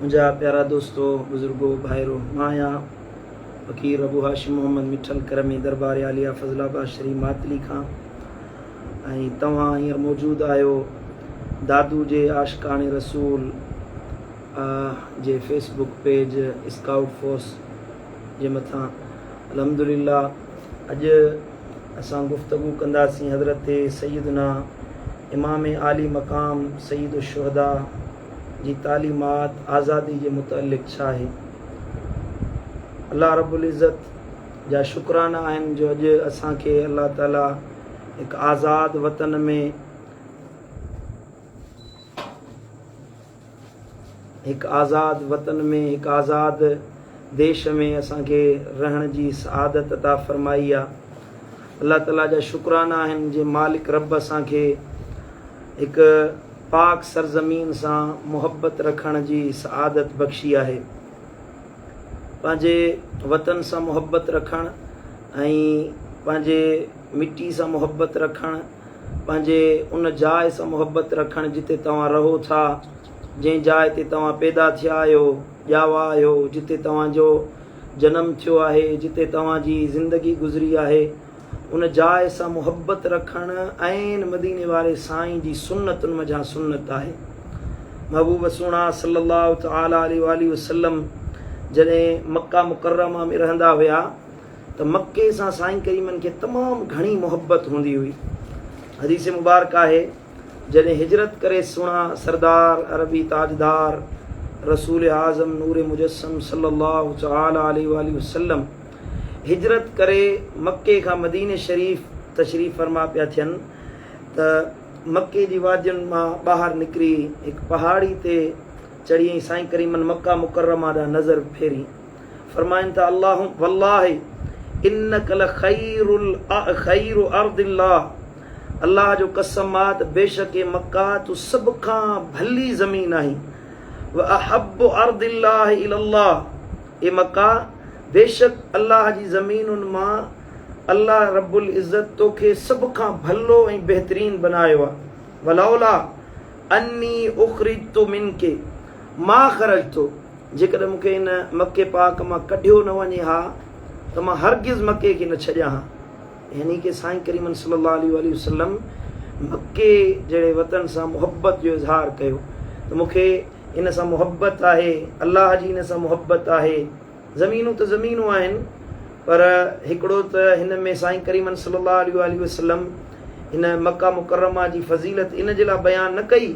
منهنجا پيارا دوستو، بزرگو، ڀائرو! مان آهيان فقير ابو هاشم محمد مٺل ڪرمي دربار عاليه فضل آباد شريف ماتلي کان ۽ توهان هينئر موجود آهيو دادو جي عاشقان رسول جي Facebook page scout force جي مٿان الحمد لله اڄ اسان گفتگو ڪنداسين حضرت سيدنا امام عالي مقام سيد الشهداء جي تعليمات آزادي جي متعلق ڇا آهي؟ الله رب العزت جا شڪرانا آهن جو اڄ اسان کي الله تعالي هڪ آزاد وطن ۾ هڪ آزاد وطن ۾ هڪ آزاد ديش ۾ اسان کي رهڻ جي سعادت عطا فرمائي آ الله تعالي جا شڪرانا آهن جي مالڪ رب اسان کي هڪ پاڪ سرزمين سان محبت رکڻ جي سعادت بخشي آهي. پنهنجي وطن سان محبت رکڻ ۽ پنهنجي مٽي سان محبت رکڻ، پنهنجي ان جاء سان محبت رکڻ جتي توهان رهو ٿا، جنهن جاء تي توهان پيدا ٿيا آهيو، ڄاوا آهيو، جتي توهان جو جنم ٿيو آهي، جتي توهان جي زندگي گذري آهي، ان جاء سان محبت رکڻ عين مديني واري سائين جي سنتن منجهان سنت آهي. محبوب سهڻا صلي الله تعالي عليه واٰله وسلم جڏهن مڪه مڪرمه ۾ رهندا هيا ته مڪي سان سائين ڪريمن کي تمام گهڻي محبت هوندي هئي. حديث مبارڪ آهي جڏهن هجرت ڪري سهڻا سردار عربي تاجدار رسول اعظم نور مجسم صلي الله تعالي عليه واٰله وسلم هجرت ڪري مڪي کان مديني شريف تشريف فرما پيا ٿين ته مڪي جي وادين مان ٻاهر نڪري هڪ پهاڙي تي چڙهي ۽ سائين ڪريمن مڪه مڪرمه ڏانهن نظر ڦيري فرمائن ته الله والله انڪ لخير خير ارض الله الله جو قسم آ ته بيشڪ اي مڪه تو سڀ کان ڀلي زمين آهين واحب ارض الله الى الله اي مڪه بيشڪ الله جي زمينن مان الله رب العزت تو کي سڀ کان ڀلو ۽ بهترين بنايو آهي ولولا اني اخرجت منک ما خرجت جيڪڏهن مون کي ان مڪي پاڪ مان ڪڍيو نه وڃي ها ته مان هرگز مڪي کي نه ڇڏيان ها يعني ڪه سائين ڪريمن صلي الله عليه واٰله وسلم مڪي جهڙي وطن سان محبت جو اظهار ڪيو ته مون کي ان سان محبت آهي الله جي ان سان محبت آهي زمينون ته زمينون آهن پر هڪڙو ته هن ۾ سائين ڪريمن صلي الله عليه واٰله وسلم هن مڪه مڪرمه جي فضيلت ان جي لاء بيان نه ڪئي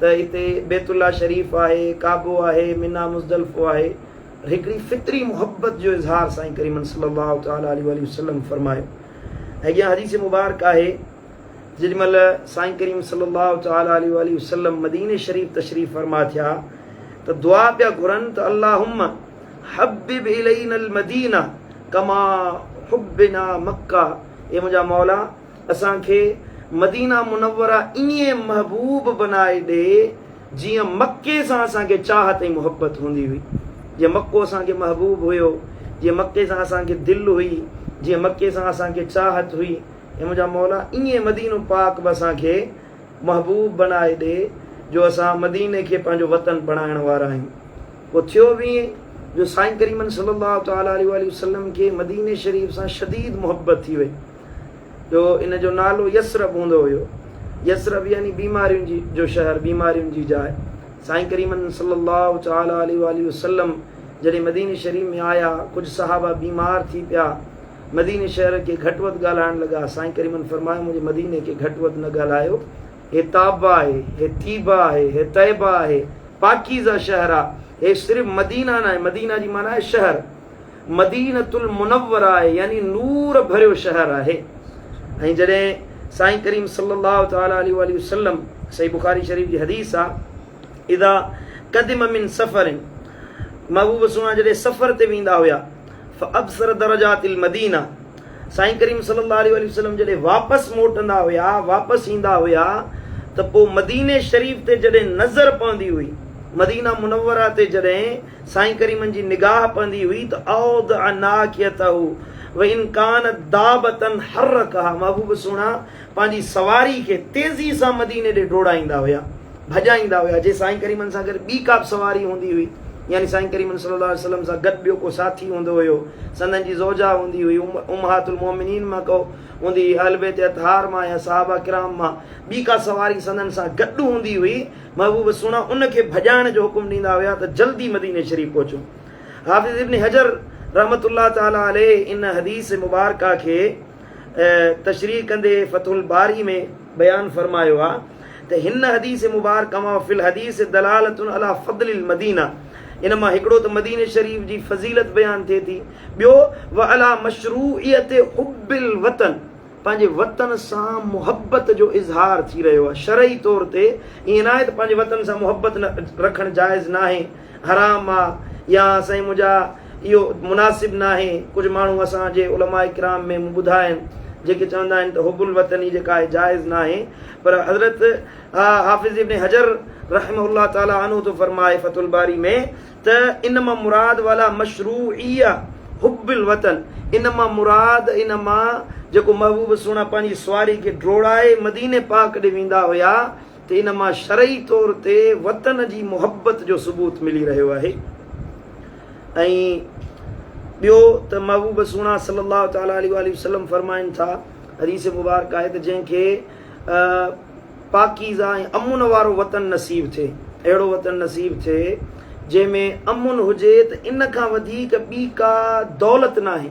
ته اتي بيت الله شريف آهي، ڪعبو آهي، منيٰ مزدلفو آهي پر هڪڙي فطري محبت جو اظهار سائين ڪريمن صلي الله تعالٰي عليه واٰله وسلم فرمايو ۽ اڳيان حديث مبارڪ آهي. جيڏي مھل سائين ڪريم صلي الله تعالٰي عليه واٰله وسلم مديني شريف تشريف فرما ٿيا ته دعا پيا گھرن ته اللهم حبب الينا المدينه ڪما حبنا مڪه اي منھنجا مولا اسان کي مدينه منوره ائين محبوب بنائي ڏي جيئن مڪي سان اسان کي چاھت ۽ محبت ھوندي ھئي جيئن مڪو اسان کي محبوب ھيو جيئن مڪي سان اسان کي دل ھئي جيئن مڪي سان اسان کي چاھت ھئي اي منهنجا مولا! ائين مدينو پاڪ به اسان کي محبوب بڻائي ڏي جو اسان مديني کي پنهنجو وطن بڻائڻ وارا آهيون. پوء ٿيو به ائين جو سائين ڪريمن صلي الله تعالٰي عليه واٰله وسلم کي مديني شريف سان شديد محبت ٿي وئي جو ان جو نالو يثرب هوندو هيو. يثرب يعني بيمارين جو شهر، بيمارين جي جاء. سائين ڪريمن صلي الله تعالٰي عليه واٰله وسلم جڏهن مديني شريف ۾ آيا، ڪجهه صحابه بيمار ٿي پيا. مديني شهر کي گهٽ وڌ ڳالهائڻ لڳا. سائين ڪريمن فرمايو، منهنجي مديني کي گهٽ وڌ نه ڳالهايو. هي طابه آهي، هي طيبه آهي، هي طيبه آهي، پاڪيزه شهر آ. هي صرف مدينه ناهي، مدينه جي معنيٰ آهي شهر. مدينة المنوره آهي، يعني نور ڀريو شهر آهي. ۽ جڏهن سائين ڪريم صلي الله تعالٰي عليه واٰله وسلم، صحيح بخاري شريف جي حديث آ، اذا قدم من سفر، محبوب سهڻا جڏهن سفر تي ويندا هيا. فابصر درجات المدينه سائين ڪريم صلي الله عليه وسلم جڏهن واپس موٽندا هيا واپس ايندا هيا ته پو مديني شريف تي جڏهن نظر پوندي هئي مدينه منوره تي جڏهن سائين ڪريمن جي نگاهه پوندي هئي ته اودع ناکيته وان ڪانت دابتن حرڪها محبوب سهڻا پنهنجي سواري کي تيزي سان مديني ڏي ڊوڙائيندا هيا، ڀڄائيندا هيا، جي سائين ڪريمن سان گڏ ٻي ڪابه سواري هوندي هئي، يعني سائين ڪريمن صلي الله عليه وسلم سان گڏ ٻيو ڪو ساٿي هوندو هيو، سندن جي زوجا هوندي هئي، امهات المومنين مان ڪو هوندي هئي، اهل بيت اطهار مان يا صحابه ڪرام مان ٻي ڪا سواري سندن سان گڏ هوندي هئي، محبوب سهڻا ان کي ڀڄائڻ جو حڪم ڏيندا هيا ته جلدي مديني شريف پهچون. حافظ ابن حجر رحمة الله تعالٰي عليه ان حديث مبارڪه کي. تشريح ڪندي فتح الباري ۾ بيان فرمايو آ ته هن حديث مبارڪه مان وفي الحديث دلالة علي فضل المدينة ان مان هڪڙو ته مديني شريف جي فضيلت بيان ٿئي ٿي ٻيو وعلي مشروعيت حب الوطن پنهنجي وطن سان محبت جو اظهار ٿي رهيو آ شرعي طور تي ائين ناهي ته پنهنجي وطن سان محبت رکڻ جائز ناهي حرام آ يا سائين منهنجا اهو مناسب ناهي، ڪجهه ماڻهو اسان جي علماء ڪرام ۾ مون ٻڌا آهن جيڪي چوندا آهن ته حب الوطني جيڪا آهي جائز ناهي پر حضرت حافظ ابن حجر رحمه الله تعالٰي عنه ٿو فرمائي فتح الباري ۾ ته ان مان مراد والا مشروعيه حب الوطن ان مان مراد ان مان جيڪو محبوب سهڻا پنهنجي سواري کي ڊوڙائي مديني پاڪ ڏي ويندا هيا ته ان مان شرعي طور تي وطن جي محبت جو ثبوت ملي رهيو آهي ۽ ٻيو ته محبوب سهڻا صلي الله تعالٰي عليه واٰله وسلم فرمائن ٿا حديث مبارڪه آهي ته جنهن کي پاڪيزه ۽ امن وارو وطن نصيب ٿئي اهڙو وطن نصيب ٿئي جنهن ۾ امن هجي ته ان کان وڌيڪ ٻي ڪا دولت ناهي.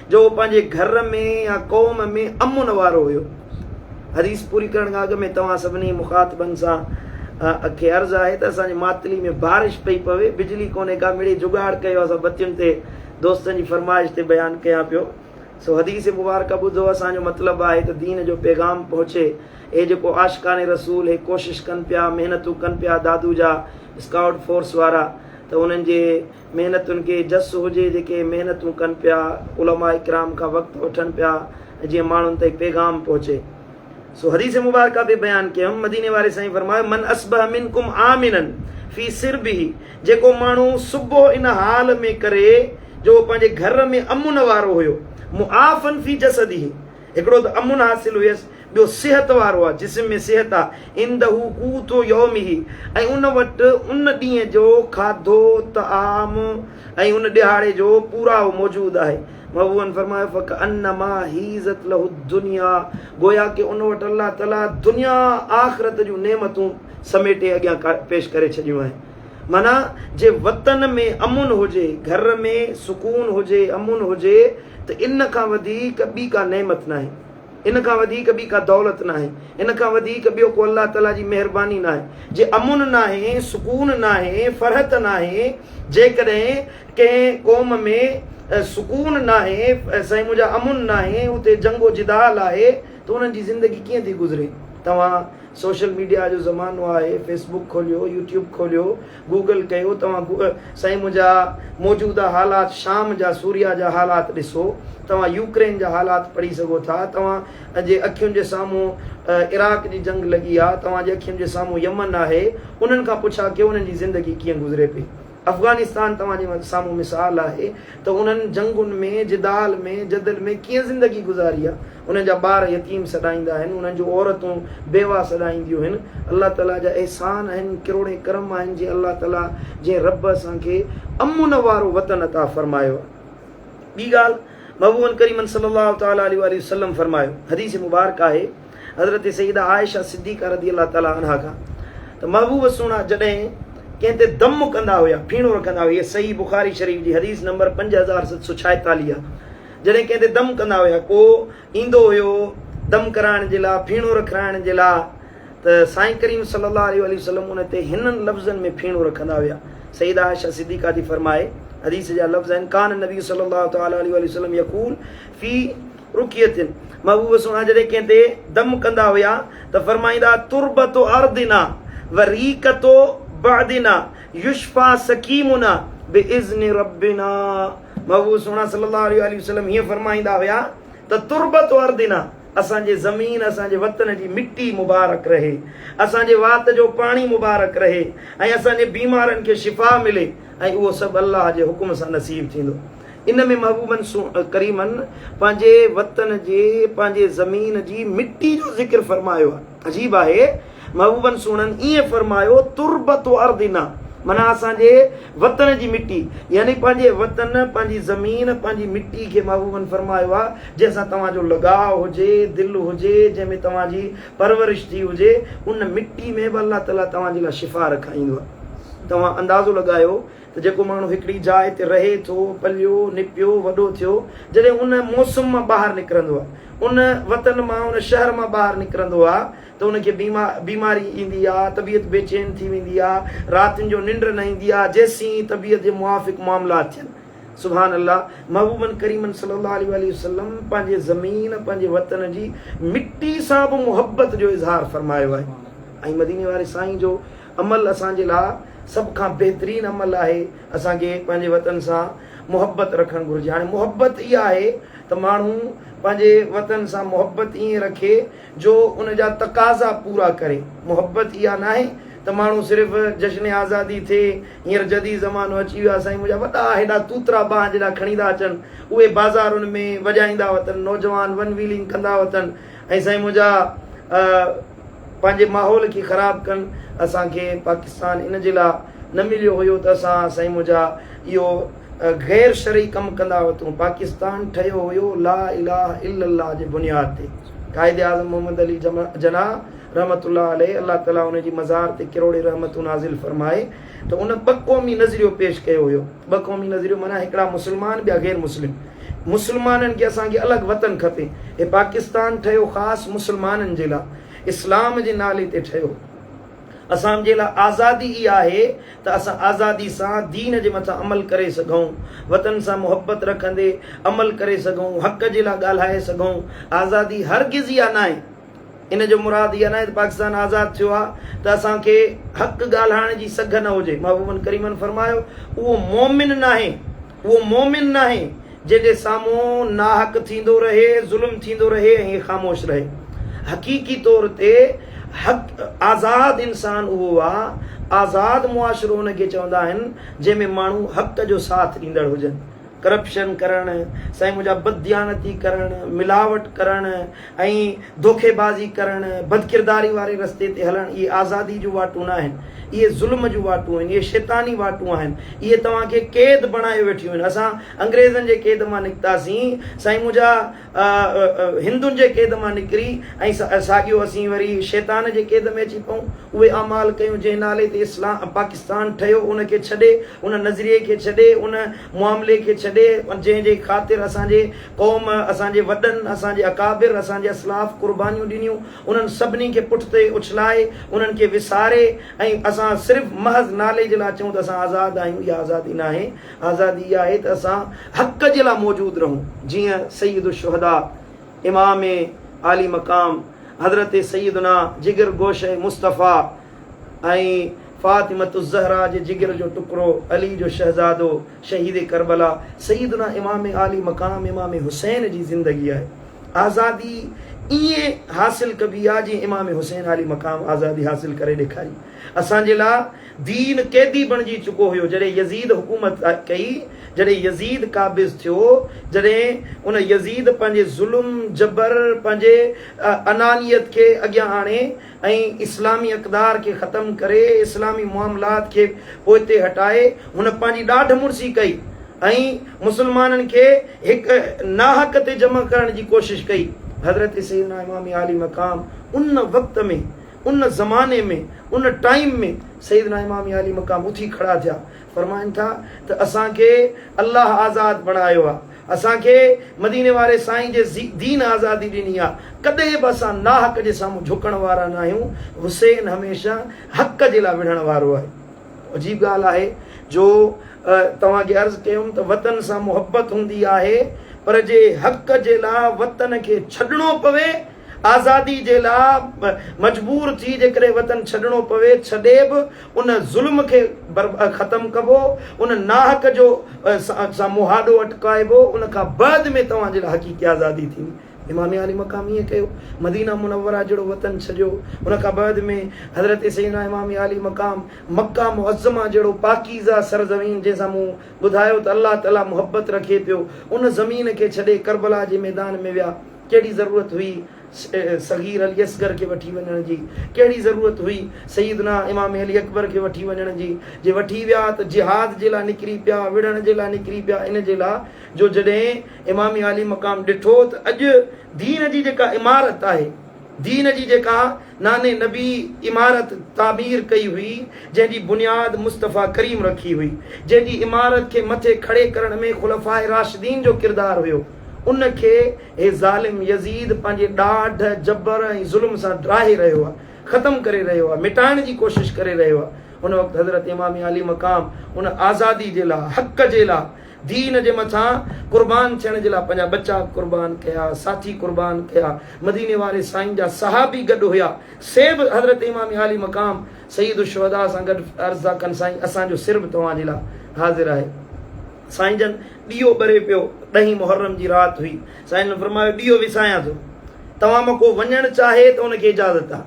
جو هو پنهنجي گهر ۾ يا قوم ۾ امن وارو هيو. حديث پوري ڪرڻ کان اڳ ۾ توهان سڀني مخاطبن سان کي عرض آهي ته اسان جي ماتلي ۾ بارش پئي پوي، بجلي ڪونهي ڪا مڙئي جگاڙ ڪيو اسان بتين تي دوستن جي فرمائش تي بيان ڪيان پيو سو حديث مبارڪه ٻڌو اسان جو مطلب آهي ته دين جو پيغام پهچي اهي جيڪو عاشقان رسول هي ڪوشش ڪن پيا محنتون ڪن پيا دادو جا اسڪائوٽ فورس وارا ته انهن جي محنتن کي جس هجي جيڪي محنتون ڪن پيا علماء ڪرام کان وقت وٺن پيا ۽ جيئن ماڻهن تائين پيغام پهچي سو حديث مبارڪه به بيان ڪيم مديني واري سائين فرمايو من اصبح منڪم آمنا في سربه جيڪو ماڻهو صبح ان حال ۾ ڪري جو پنهنجي گهر ۾ امن وارو هيو معافا في جسده هڪڙو ته امن حاصل هيس، ٻيو صحت وارو آ، جسم ۾ صحت آ، عنده قوت يومه، ۽ ان وٽ ان ڏينهن جو کاڌو، طعام، ۽ ان ڏهاڙي جو پورائو موجود آهي. محبوبن فرمايو، فڪأنما حيزت له الدنيا، گويا ڪي ان وٽ الله تعاليٰ دنيا آخرت جون نعمتون سميٽي اڳيان پيش ڪري ڇڏيون آهن. معنيٰ جي وطن ۾ امن هجي، گهر ۾ سڪون هجي، امن هجي ته ان کان وڌيڪ ٻي ڪا نعمت ناهي، ان کان وڌيڪ ٻي ڪا دولت ناهي، ان کان وڌيڪ ٻيو ڪو الله تعاليٰ جي مهرباني ناهي. جي امن ناهي، سڪون ناهي، فرحت ناهي، جيڪڏهن ڪنهن قوم ۾ سڪون ناهي، سائين منهنجا امن ناهي، اتي جنگ و جدال آهي ته انهن جي زندگي ڪيئن ٿي گذري؟ توهان سوشل ميڊيا جو زمانو آهي فيس بوڪ کوليو يوٽيوب کوليو گوگل ڪيو توهان سائين منهنجا موجوده حالات شام جا سوريا جا حالات ڏسو توهان يوڪرين جا حالات پڙهي سگهو ٿا توهان جي اکين جي سامهون عراق جي جنگ لڳي آ توهان جي اکين جي سامهون يمن آهي انهن کان پڇا ڪيو انهن جي زندگي ڪيئن گذري پئي. افغانستان توهان جي سامهون مثال آهي ته انهن جنگن ۾، جدال ۾، جدل ۾ ڪيئن زندگي گذاري آهي. انهن جا ٻار يتيم سڏائيندا آهن، انهن جون عورتون بيواهه سڏائينديون هن. الله تعاليٰ جا احسان آهن، ڪروڙين ڪرم آهن جي الله تعاليٰ جنهن رب اسان کي امن وارو وطن عطا فرمايو آهي. ٻي ڳالهه محبوبن ڪريمن صلي الله تعاليٰ عليه واٰله وسلم فرمايو، حديث مبارڪ آهي، حضرت سيده عائشه صديقه رضي الله تعالٰي عنها کان ته محبوب سهڻا جڏهن ڪنهن تي دم ڪندا هيا ڦيڻو رکندا هيا هيء صحيح بخاري شريف جي حديث نمبر پنج هزار ست سؤ ڇائيتاليهه آهي جڏهن ڪنهن تي دم ڪندا هيا ڪو ايندو هيو دم ڪرائڻ جي لاء ڦيڻو رکرائڻ جي لاء ته سائين ڪريم صلي الله عليه وآله وسلم ان تي هنن لفظن ۾ ڦيڻو رکندا هيا سيده عائشه صديقه ٿي فرمائي حديث جا لفظ آهن ڪان النبي صلي الله تعالٰي عليه وآله وسلم يقول في رڪي اٿين. محبوب سهڻا جڏهن ڪنهن تي دم ڪندا هيا ته فرمائيندا، تربت ارضنا و ريقت بعدنا يشفيٰ سقيمنا باذن ربنا محبوب سهڻا صلي الله عليه واٰله وسلم هيئن فرمائيندا هيا ته تربت ارضنا اسان جي زمين اسان جي وطن جي مٽي مبارڪ رهي اسان جي وات جو پاڻي مبارڪ رهي ۽ اسان جي بيمارن کي شفا ملي ۽ اهو سڀ الله جي حڪم سان نصيب ٿيندو. ان ۾ محبوبن سون ڪريمن پنهنجي وطن جي پنهنجي زمين جي مٽي جو ذڪر فرمايو آهي عجيب آهي محبوبن سهڻن ائين فرمايو تربت ارضنا معنيٰ اسان جي وطن جي مٽي يعني پنهنجي وطن پنهنجي زمين پنهنجي مٽي کي محبوبن فرمايو آهي جنهن سان توهان جو لڳاء هجي دل هجي جنهن ۾ توهان جي پرورش ٿي هجي ان مٽي ۾ به الله تعالي توهان جي لاء شفا رکائيندو توهان اندازو لڳايو ته جيڪو ماڻهو هڪڙي جاء تي رهي ٿو، پليو، نپيو، وڏو ٿيو، جڏهن ان موسم مان ٻاهر نڪرندو آ، ان وطن مان، ان شهر مان ٻاهر نڪرندو آ ته ان کي بيماري ايندي آ، طبيعت بي چين ٿي ويندي آ، راتين جو ننڊ نه ايندي آ، جيسين طبيعت جي موافق معاملات ٿين. سبحان الله! محبوبن ڪريمن صلّي اللّٰه عليه واٰله وسلّم پنهنجي زمين، پنهنجي وطن جي مٽي سان به محبّت جو اظهار فرمايو آهي ۽ مديني واري سائين جو عمل اسان جي لاء سڀ کان بهترين عمل آهي، اسان کي پنهنجي وطن سان محبت رکڻ گهرجي، هاڻي محبت اها آهي ته ماڻهو پنهنجي وطن سان محبت ائين رکي جو ان جا تقاضا پورا ڪري، محبت اها ناهي ته ماڻهو صرف جشن آزادي ٿئي، هينئر جديد زمانو اچي ويو آهي سائين منهنجا وڏا هيڏا توترا بانهن جيڏا کڻي ٿا اچن، اهي بازارن ۾ وڄائيندا وتن نوجوان ون ويلنگ ڪندا وتن ۽ سائين منهنجا پنهنجي ماحول کي خراب ڪن اسان کي پاڪستان ان جي لا نه مليو هيو ته اسان سائين منهنجا اهو غير شرعي ڪم ڪندا هوتون پاڪستان ٺهيو هيو لا اله الا الله جي بنياد تي قائد اعظم محمد علي جناح رحمة الله عليه الله تعالي ان جي مزار تي ڪروڙين رحمتون نازل فرمائي ته ان ٻه قومي نظريو پيش ڪيو هيو. ٻه قومي نظريو معنيٰ هڪڙا مسلمان ٻيا غير مسلم. مسلمانن کي اسان کي الڳ وطن کپي. هي پاڪستان ٺهيو خاص مسلمانن جي لاء. اسلام جي نالي تي ٺهيو. اسان جي لاء آزادي ئي آهي ته اسان آزادي سان دين جي مٿان عمل ڪري سگهون. وطن سان محبت رکندي عمل ڪري سگهون. حق جي لاء ڳالهائي سگهون. آزادي هرگز اها ناهي. ان جو مراد اها ناهي ته پاڪستان آزاد ٿيو آهي ته اسان کي حق ڳالهائڻ جي سگهه نه هجي. محبوبن ڪريمن فرمايو، اهو مؤمن ناهي، اهو مؤمن ناهي، جنهن جي سامهون ناحق ٿيندو رهي، ظلم ٿيندو رهي ۽ هي خاموش رهي. حقيقي طور تي حق آزاد انسان اهو آ، آزاد معاشرو ان کي چوندا آهن، جنهن ۾ ماڻهو حق جو ساٿ ڏيندڙ هجن. ڪرپشن ڪرڻ، سائين منهنجا بدديانتي ڪرڻ، ملاوٽ ڪرڻ ۽ ڌوڪيبازي ڪرڻ، بدڪرداري واري رستي تي هلڻ اهي آزادي جون واٽون ناهن، اهي ظلم جون واٽون آهن، اهي شيطاني واٽون آهن، اهي توهان کي قيد بڻائي ويٺيون آهن، اسان انگريزن جي قيد مان نڪتاسين، سائين منهنجا. هندن جي قيد مان نڪري ۽ ساڳيو اسين وري شيطان جي قيد ۾ اچي پئون. اهي اعمال ڪيون جنهن نالي تي اسلام پاڪستان ٺهيو ان کي ڇڏي، ان نظريي کي ڇڏي، ان معاملي کي ڇڏي جنهن جي خاطر اسان جي قوم، اسان جي وڏن، اسان جي اڪابر، اسان جي اسلاف قربانيون ڏنيون، انهن سڀني کي پٺتي اڇلائي، انهن کي وساري ۽ اسان صرف محض نالي جي لاء چئون ته اسان آزاد آهيون، اها آزادي ناهي. آزادي اها آهي ته اسان حق جي لاء موجود رهون، جيئن سيد الشهداء امام عالي مقام حضرت سيدنا جگر گوشه مصطفيٰ ۽ فاطمة الزهراء جي جگر جو ٽڪرو علي جو شهزادو شهيد ڪربلا سيدنا امام عالي مقام امام حسين جي زندگي آهي آزادي ائين حاصل ڪبي آهي جيئن امام حسين عالي مقام آزادي حاصل ڪري ڏيکاري اسان جي لاء دين قيدي بڻجي چڪو هيو جڏهن يزيد حڪومت ڪئي جڏهن يزيد قابض ٿيو جڏهن ان يزيد پنهنجي ظلم جبر پنهنجي انانيت کي اڳيان آڻي ۽ اسلامي اقدار کي ختم ڪري اسلامي معاملات کي پوئتي هٽائي هن پنهنجي ڏاڍ مڙسي ڪئي ۽ مسلمانن کي هڪ ناحق تي جمع ڪرڻ جي ڪوشش ڪئي حضرت سيدنا امام عالي مقام ان وقت ۾ ان زماني ۾ ان ٽائيم ۾ سيدنا امام عالي مقام اٿي کڙا ٿيا فرمائن ٿا ته اسان کي الله آزاد بڻايو آ اسان کي مديني واري سائين جي دين آزادي ڏني آ ڪڏهن به اسان ناحق جي سامهون جهڪڻ وارا ناهيون حسين هميشه حق جي لا وڙهڻ وارو آهي عجيب ڳالهه آهي جو توهان کي عرض ڪيم ته وطن سان محبت هوندي آهي پر جي حق جي لا وطن کي ڇڏڻو پوي آزادي جي لاء مجبور ٿي جيڪڏهن وطن ڇڏڻو پوي ڇڏي به ان ظلم کي ختم ڪبو ان ناحق جو سان مهاڏو اٽڪائبو ان کان بعد ۾ توهان جي لاء حقيقي آزادي ٿيندي امام عالي مقام ائين ڪيو مدينه منوره جهڙو وطن ڇڏيو ان کان بعد ۾ حضرت سيدنا امام عالي مقام مڪه معظمه جهڙو پاڪيزه سرزمين جنهن سان مون ٻڌايو ته الله تعالي محبت رکي پيو ان زمين کي ڇڏي ڪربلا جي ميدان ۾ ويا ڪهڙي ضرورت هئي صغير علي اصغر کي وٺي وڃڻ جي؟ ڪهڙي ضرورت هئي سيدنا امام علي اڪبر کي وٺي وڃڻ جي؟ جي وٺي ويا ته جهاد جي لاء نڪري پيا، وڙهڻ جي لاء نڪري پيا ان جي لاء جو جڏهن امام عالي مقام ڏٺو ته اڄ دين جي جيڪا عمارت آهي، دين جي جيڪا نانء نبي عمارت تعمير ڪئي هئي، جنهن جي بنياد مصطفيٰ ڪريم رکي هئي، جنهن جي عمارت کي مٿي کڙي ڪرڻ ۾ خلفاء راشدين جو ڪردار هيو. ان کي هي ظالم يزيد پنهنجي ڏاڍ، جبر ۽ ظلم سان ڊاهي رهيو آهي، ختم ڪري رهيو آهي، مٽائڻ جي ڪوشش ڪري رهيو آهي. ان وقت حضرت امام عالي مقام ان آزادي جي لاء، حق جي لاء، دين جي مٿان قربان ٿيڻ جي لاء پنهنجا ٻچا قربان ڪيا، ساٿي قربان ڪيا، مديني واري سائين جا صحابي گڏ هيا، سي به حضرت امام عالي مقام سيد الشهداء سان گڏ عرض ٿا ڪن سائين اسان جو سر به توهان جي لاء حاضر آهي. سائين جن ڏيئو ٻري پيو، ڏهين محرم جي رات هئي، سائين جن فرمايو ڏيئو وسايان ٿو، توهان مان ڪو وڃڻ چاهي ته ان کي اجازت آ.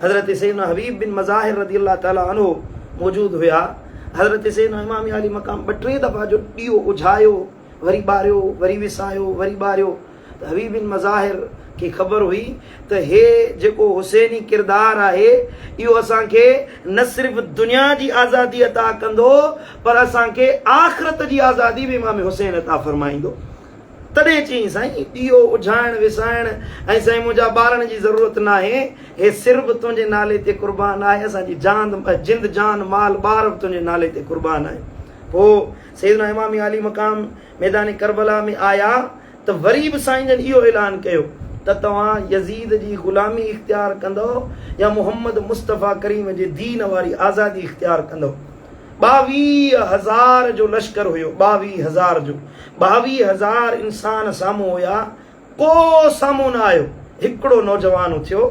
حضرت سيدنا حبيب بن مظاهر رضي الله تعالٰي عنه موجود هيا، حضرت سيدنا امام عالي مقام ٻه ٽي دفعا جو ڏيئو اجهايو، وري ٻاريو، وري وسايو، وري ٻاريو، حويي بن مظاهر کي خبر هئي ته هي جيڪو حسيني ڪردار آهي اهو اسان کي نه صرف دنيا جي آزادي عطا ڪندو پر اسان کي آخرت جي آزادي به امام حسين عطا فرمائيندو. تڏهن چيائين سائين ڏيئو اجهائڻ وسائڻ ۽ سائين منهنجا ٻارڻ جي ضرورت ناهي هي سر به تنهنجي نالي تي قربان آهي اسان جي جاند جند جان مال ٻار به تنهنجي نالي تي قربان آهن پوء سيدنا امام عالي مقام ميدان ڪربلا ۾ آيا ته وري به سائين جن اهو اعلان ڪيو ته توهان يزيد جي غلامي اختيار ڪندؤ يا محمد مصطفيٰ ڪريم جي دين واري آزادي اختيار ڪندؤ. ٻاويهه هزار جو لشڪر هيو، ٻاويهه هزار جو ٻاويهه هزار انسان سامهون هيا، ڪو سامهون نه آيو. هڪڙو نوجوان اٿيو،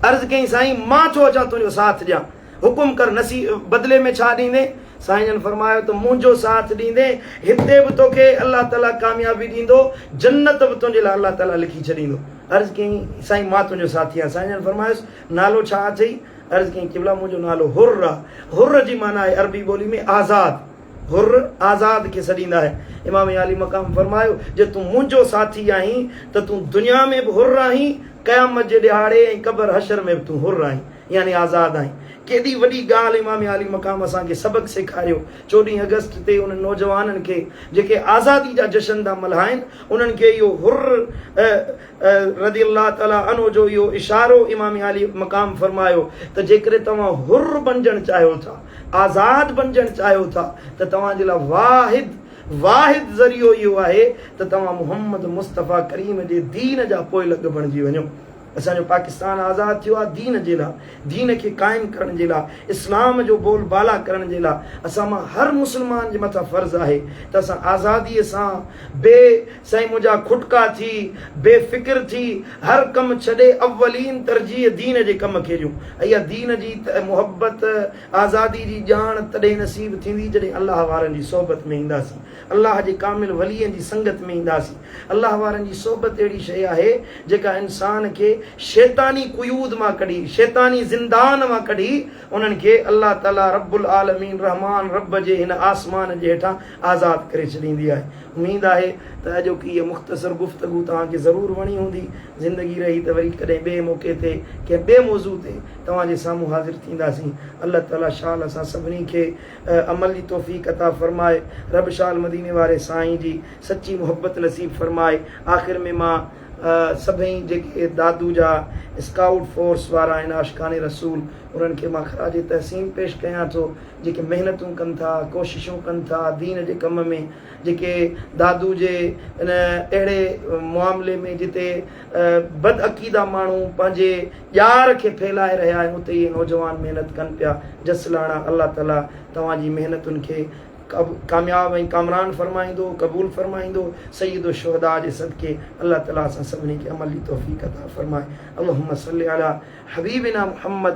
عرض ڪيائين، سائين! مان ٿو اچان تنهنجو ساٿ ڏيان. حڪم ڪر، نصي بدلي ۾ ڇا ڏيندين؟ سائين جن فرمايو ته منهنجو ساٿ ڏيندين، هتي به توکي الله تعاليٰ ڪاميابي ڏيندو، جنت به تنهنجي لاء الله تعاليٰ لکي ڇڏيندو. عرض ڪيائين، سائين! مان تنهنجو ساٿي آهيان. سائين جن فرمايس، نالو ڇا اٿئي؟ عرض ڪيائين، قبلا! منهنجو نالو حر آهي. حر جي معنيٰ آهي عربي ٻولي ۾ آزاد. حر، آزاد، کي سڏيندا آهن. امام عالي مقام فرمايو، جي تون منهنجو ساٿي آهين ته تون دنيا ۾ به حر آهين، قيامت جي ڏهاڙي ۽ قبر حشر ۾ به تون حر آهين، يعني آزاد آهين. ڪيڏي وڏي ڳالهه امام عالي مقام اسان کي سبق سيکاريو. چوڏهين آگسٽ تي انهن نوجوانن کي جيڪي آزادي جا جشن ٿا ملهائين، انهن کي اهو حر، رضي الله تعالٰي عنه جو اهو اشارو امام عالي مقام فرمايو ته جيڪڏهن توهان حر بنجڻ چاهيو ٿا، آزاد بنجڻ چاهيو ٿا ته توهان جي لاء واحد واحد ذريعو اهو آهي ته توهان محمد مصطفيٰ ڪريم جي دين جا پوئلڳ بڻجي وڃو. اسان جو پاڪستان آزاد ٿيو آهي دين جي لاء، دين کي قائم ڪرڻ جي لاء، اسلام جو بول بالا ڪرڻ جي لاء، اسان مان هر مسلمان جي مٿان فرض آهي ته اسان آزادي سان بي سائين منهنجا کٽڪا ٿي، بي فڪر ٿي، هر ڪم ڇڏي اولين ترجيح دين جي ڪم کي ڏيون. اها دين جي محبت، آزادي جي ڄاڻ تڏهن نصيب ٿيندي جڏهن الله وارن جي صحبت ۾ اينداسين، الله جي ڪامل ولين جي سنگت ۾ اينداسين. الله وارن جي صحبت اهڙي شيء آهي جيڪا انسان کي شيطاني قيود مان ڪڍي، شيطاني زندان مان ڪڍي انهن کي الله تعاليٰ رب العالمين رحمان رب جي هن آسمان جي هيٺان آزاد ڪري ڇڏيندي آهي. اميد آهي ته اڄوڪي هيء مختصر گفتگو توهان کي ضرور وڻي هوندي. زندگي رهي ته وري ڪڏهن ٻئي موقعي تي ڪنهن ٻئي موضوع تي توهان جي سامهون حاضر ٿينداسين. الله تعاليٰ شال اسان سڀني کي عمل جي توفيق عطا فرمائي. رب شال مديني واري سائين جي سچي محبت نصيب فرمائي. آخر ۾ مان سڀئي جيڪي دادو جا اسڪائوٽ فورس وارا آهن عاشقان رسول انهن کي مان خراج تحسين پيش ڪيان ٿو. جيڪي محنتون ڪن ٿا، ڪوششون ڪن ٿا دين جي ڪم ۾ جيڪي دادو جي ان اهڙي معاملي ۾ جتي بدعقيده ماڻهو پنهنجي ڄار کي ڦهلائي رهيا آهن اتي اهي نوجوان محنت ڪن پيا جسلاڻا الله تعالي توهان جي محنتن کي ڪامياب ۽ ڪامران فرمائيندو قبول فرمائيندو سيد الشهداء جي صدقي الله تعالي اسان سڀني کي عمل جي توفيق عطا فرمائي اللهم صلي علي حبيبنا محمد